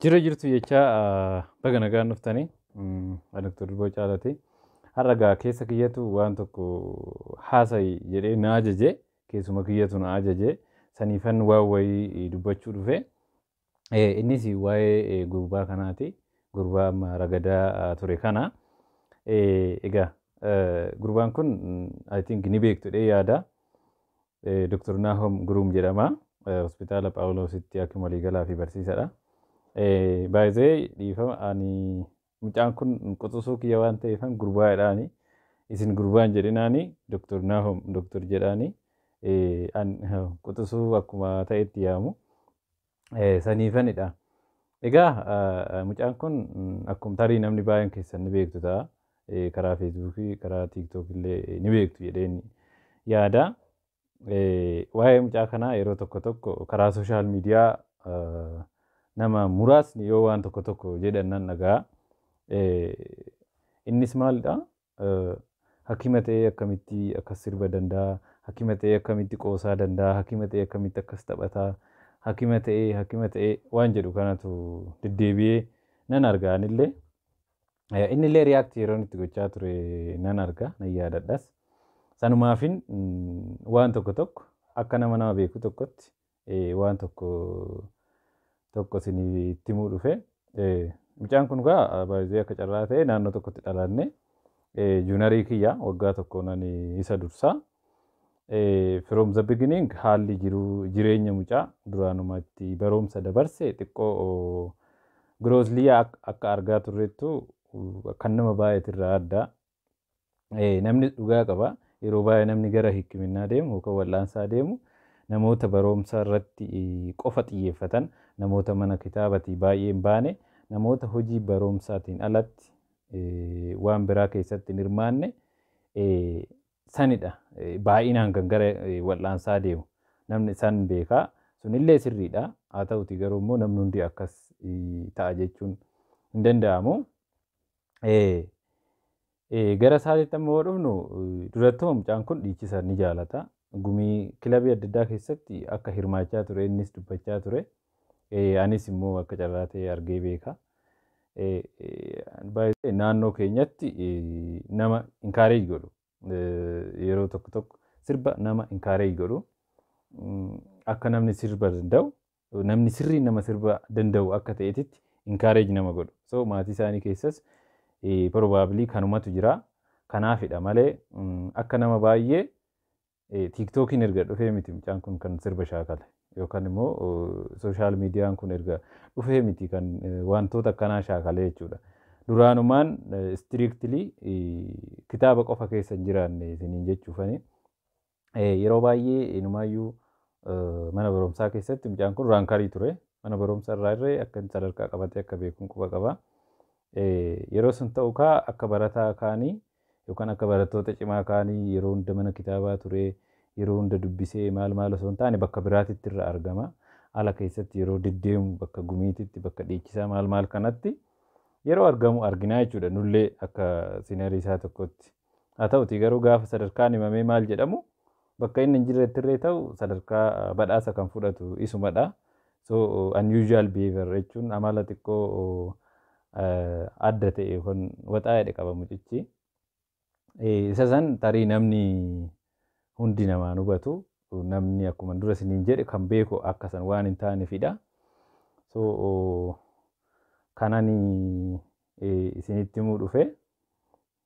Jirra jirtu jechaa baga nagaan dhuftanii ani Dr. Durboo Caalati. Har'a gaa keessa kiyyatu waan tokko haasa'i jedhee na ajaje keessuma kiyyatu na ajaje saniifan waan wayii dubbachuu dhufe. Eh, Innis waa'ee eh, gurbaa kanaati. Gurbaa amma ragadaa ah, ture kana. Eh, Egaa eh, gurbaan kun mm, I think ni beektu dhee yaada. Doktar Naahom Guruum jedhama. Hospitaala Phaawuloositti hakiima waliigalaa fi barsiisadha. By the way, dhiifama ani mucaan kun quxusuu kiyya waan ta'eefan gurbaa jedhaani. Isin gurbaan jedhinaani Doktar Naahom Doktar jedhaani. An quxusuu akkuma ta'etti yaamu. saniifanidha. Egaa mucaan kun akkuma tarii namni baay'een keessan ni beektu ta'a. Karaa Feesbuukii, karaa Tiiktook illee ni beektu jedheen yaada. Waa'ee mucaa kanaa yeroo tokko tokko karaa sooshaal miidiyaa nama muraasni yoo waan tokko tokko jedhan nan dhaga'a. Innis maalidha? Hakima ta'ee akkamitti akkas sirba danda'a? Hakima ta'ee akkamitti qoosaa danda'a? Hakima ta'ee akkamitti akkas taphata? Hakima ta'ee, hakima ta'ee waan jedhu kanatu deddeebi'ee nan arga anillee. Eh, Innillee react yeroon itti gochaa ture nan arga, nan yaadadhas. Sanumaafin mm, waan tokko tokko akka nama nama beeku tokkotti waan tokko tokko isinii itti himuu dhufe. Mucaan kun gaa baay'ee akka carraa ta'e naannoo tokkotti dhalanne. Juunarii kiyya waggaa tokkoon ani isa dursa. From the beginning haalli jiruu jireenya mucaa duraanuma itti barumsa dabarse xiqqoo giroozliyaa akka argaa turreettu kan nama baay'eetirraa adda. Ee, namnis dhugaa qaba. Yeroo baay'ee namni gara hikiminnaa deemu yookaan wal'aansaa deemu namoota baroomsa irratti qofa xiyyeeffatan, namoota mana kitaabatii baay'ee hin baane, namoota hojii baroomsaatiin alatti waan biraa keessatti hin hirmaanne sanidha. Baay'inaan kan gara wal'aansaa deemu. Namni san beekaa. Sunillee sirriidha. Haa ta'uti garuu immoo namni hundi akkas ta'a jechuun hin danda'amu. Gara isaatitti amma yoo dhufnu durattuu mucaan kun dhiichisa ni jaalata. Gumii kilabii adda addaa keessatti akka hirmaachaa ture innis dubbachaa ture. Anis immoo akka carraa ta'e argee beeka. Baay'ee naannoo keenyatti nama inkaareej godhu. Yeroo tokko tokko sirba nama inkaareej godhu. Akka namni sirba danda'u namni sirriin nama sirba danda'u akka ta'etitti encourage nama godhu. So maatii isaanii keessas probably kanumatu jira. Kanaafidha malee akka nama baay'ee tiiktookiin erga dhufee miti mucaan kun kan sirba shaakale. Yookaan immoo sooshaal miidiyaan kun erga dhufee miti kan wantoota akkanaa shaakale jechuudha. Duraanumaan istiriiktilii kitaaba qofa keessa hin jiraanne isiniin jechuufani. Yeroo baay'ee inumaayyuu mana barumsaa keessatti mucaan kun raankarii ture. Mana barumsa irraa irree akka inni sadarkaa qabatee akka beekuun quba qaba. Yeroo sun ta'u kaa akka barataa kaanii yookaan akka barattoota cimaa kaanii yeroo hunda mana kitaabaa ture yeroo hunda dubbisee maal maal osoo hin taane bakka biraatitti irra argama. Ala keessatti yeroo deddeemu bakka gumiititti bakka dhiichisaa maal maal kanatti yeroo argamu arginaa jechuudha. Nullee akka sinarii isaa tokkotti. Haa ta'utii garuu gaafa sadarkaan himamee maal jedhamu bakka inni hin jirrettirree ta'u sadarkaa badhaasa kan fudhatu isumadha. So unusual behavior jechuun amala xiqqoo adda ta'e yookaan waxaa jedhe qaba mucichi. Isa san tarii namni hundi namaan hubatu namni akkuma dura isiniin jedhe kan beeku akka san waan hin taanefidha. So kanani isinitti himuu dhufe.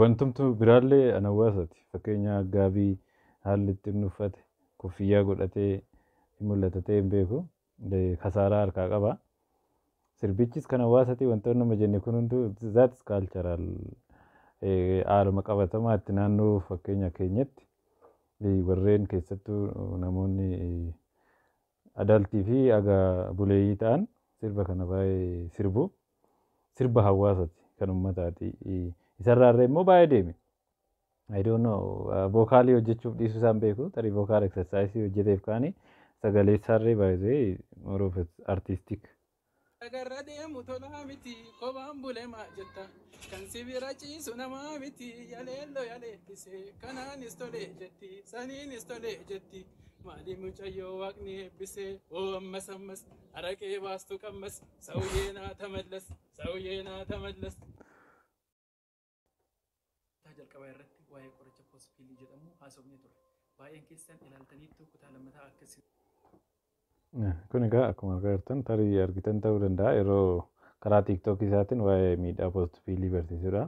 Wantumtu biraallee an hawwaasati. Fakkeenya gaabii haalli itti inni uffate, kuffiyyaa godhatee hin mul'ata ta'ee hin beeku. Kasaaraa harkaa qaba. Sirbichis kan hawwaasati wantoonni amma jenne kun hunduu that is cultural. Haaluma qabatamaatti naannoo fakkeenya keenyatti warreen keessattuu namoonni Adult fi aga buleeyyii ta'an sirba kana baay'ee sirbu. Sirba hawwaasati, kan ummataati. Isarraa irra immoo baay'ee deeme. I don't know, vocal hojjechuuf dhiisuu isaan beeku. Tarii vocal exercise hojjeteef kaani sagaleessaarree by the way more of artistic. Dhagarra deemu tolaa miti kophaan bule maa jetta kan si bira ciisu namaa miti yaleello yaleellise kanaanis tole jetti saniinis tole jetti maalii mucayyoo waaqni eebbise oo ammas ammas araqee baastu qammas sawuyyee naa tamallas sawuyyee naa tamallas. Kutaa jalqabaa irratti waa'ee qoricha post pill jedhamuu haasofnee turre. Baay'een keessan ilaaltaniittuu kutaa lammataa akka isin. Kun egaa akkuma argaa jirtan tarii argitan ta'uu danda'a yeroo karaa TikTok isaatiin waa'ee miidhaa post pill barsiisudha.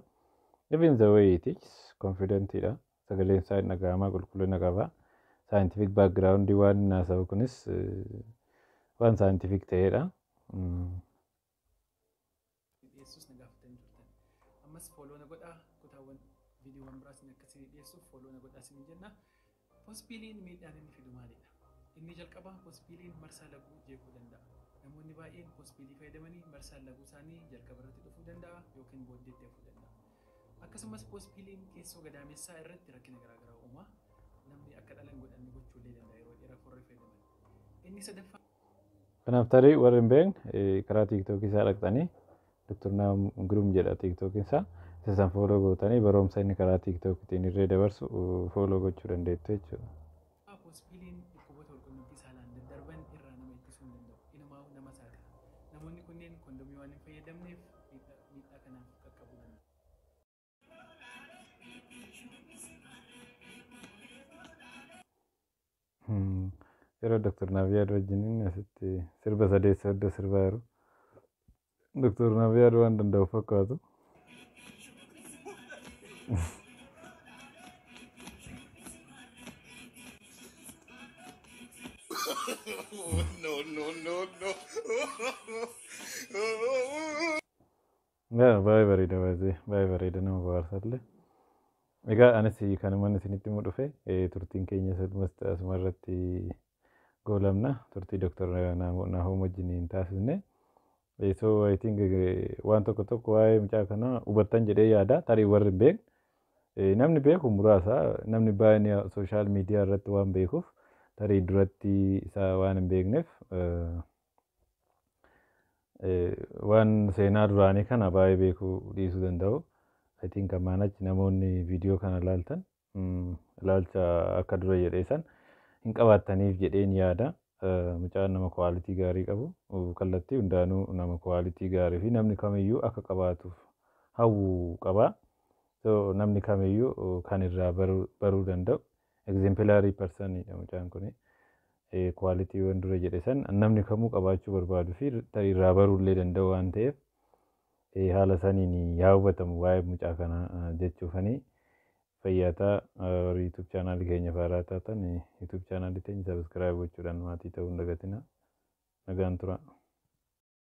Even the way he teaches confident dha. Sagaleen isaa hin dhaga'ama qulqullina qaba. Scientific background waan inni haasa'u kunis eh, waan scientific ta'edha. Mm. dhiyeessus na gaafatanii turtan. Ammas fooloo na godhaa kutaawwan viidiyoowwan biraas inni akka isin dhiyeessuuf fooloo na godhaa isin jenna. Pospiiliin miidhaan inni fidu maalidha? Inni jalqabaa pospiiliin marsaa laguu jeequu danda'a. Namoonni baay'een pospiilii fayyadamanii marsaan laguu isaanii jalqaba irratti dhufuu danda'a yookiin booddeetti hafuu danda'a. Akkasumas pospiiliin keessoo gadaamessaa irratti rakkina garaagaraa uuma. Namni akka dhala hin godhanne gochuu illee danda'a yeroo dheeraaf warri fayyadaman. Inni sadaffaa Kanaaf tarii warri hin beekne karaa tiiktookii isaa dhaqxanii Dr. Naam Giruum jedha tiiktookiin isaa isa san fooloo gootanii baroomsa inni karaa tiiktookiitiin irree dabarsu fooloo gochuu dandeettu jechuudha. Hospiliin dhukkuboota walqunnamtii saalaan daddarban irraa nama ittisuu hin danda'u. Inumaa'uu nama saaxila. Namoonni kunneen kondomii waan hin fayyadamneef miidhaa kanaaf qaqqabuu danda'u. Yeroo Dr. Naaviyaad wajjin inni asitti sirba sadeessa iddoo sirbaa jiru. Dr. Naaviyaad waan danda'u fakkaatu. no, no, no, no. Yaa baay'ee bareeda by the way baay'ee bareeda nama bohaarsalle egaa anis kanuman isinitti himu dhufe eh, turtiin keenyas almost asuma irratti goolabna turtii Dr. Naahom wajjin hin taasisne Eh, so I think eh, waan tokko tokko waa'ee mucaa kanaa hubattan jedhee yaada tarii warri hin beekne Eh, namni beeku muraasa namni baay'een sooshaal miidiyaa irratti waan beekuuf tarii duratti isaa waan hin beekneef eh, Waan seenaa duraanii kana baay'ee beekuu dhiisuu danda'u. I think ammaan achi namoonni viidiyoo kana ilaaltan ilaalcha akka dura jedhee san hin qabaattaniif jedheen yaada. Mucaan nama kwaalitii gaarii qabu kallattii hundaanuu nama kwaalitii gaarii fi namni kamiyyuu akka qabaatuuf hawwu qaba. So namni kamiyyuu kan irraa baruu danda'u Exemplary person dha mucaan kuni. Eh, quality waan dura jedhe san namni kamuu qabaachuu barbaadu fi tarii irraa baruu illee danda'u waan ta'eef eh, haala saniin yaa hubatamu waa'ee mucaa kana ah, jechuufanii fayyaataa ah, warri YouTube chaanaalii keenya faaraa taatan eh, YouTube chaanaalii teenya subscribe gochuudhaan maatii ta'uu hin dagatina. Nagaan turaa.